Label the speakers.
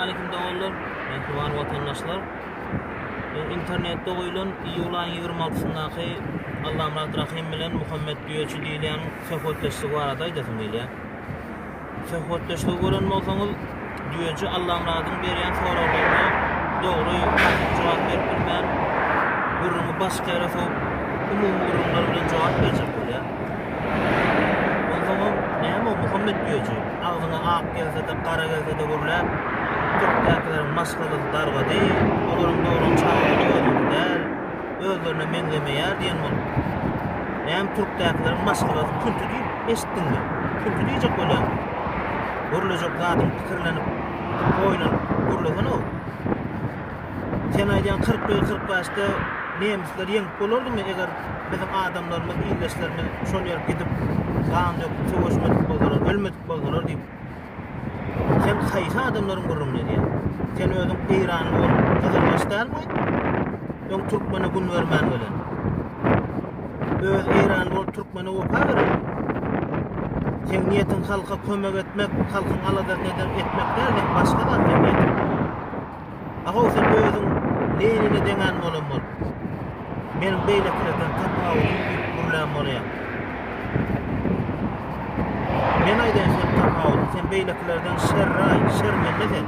Speaker 1: Salamaleýkum doganlar, mähriban watandaşlar. Men internetde goýlan iýul aýyň 26-syndaky Allamyrat Rahym bilen Muhammet Düýeçi diýilýän söhbetdeşligi barada aýdasym gelýär. Söhbetdeşligi gören bolsaňyz, Düýeçi Allamyradyň berýän soraglaryna dogry jogap berip bilmän, gürrüňi başga ýere sowup, umumy gürrüňler bilen jogap berjek bolýar. Onsoňam näme o Muhammet Güýeji? Agzyňa ak gelse-de, gara gelse-de gürläp, türkdäkileriň maşgalasy dargady, olaryň dogran çagalary özüňki däl, özlerine meňzemeýär diýen bolup. Näme türkdäkileriň maşgalasy künti diýip eşitdiňmi? Künti diýjek bolýaňmy? Gürlejek zadyňy pikirlenip, oýlanyp gürlesene-ow! Sen aýdýaň kyrk we kyrk bäşde nemisler ýeňip bolardymy eger biziň adamlarymyz ildeşlerimiz şol ýere gidip gan döküp söweşmedik bolsalar ölmedik bolsalar diýip sen haýsy adamlaryň gürrüňini edýäň sen özüň eýranly bolup gyzylbaş dälmi öň türkmene gün bermän gelen öz eýranly bolup türkmene wepa beren sen niýetiň halka kömek etmek halkyň aladasyny etmek däl sen başga zat sen niýetiň Agaw sen özüň Lenine deňän bolan bol. Meniň beýlekilerden tapawudym diýip gürlän bolaýaň. Men aýdaýyn sen tapawudy, sen beýlekilerden şerraý, şermende sen.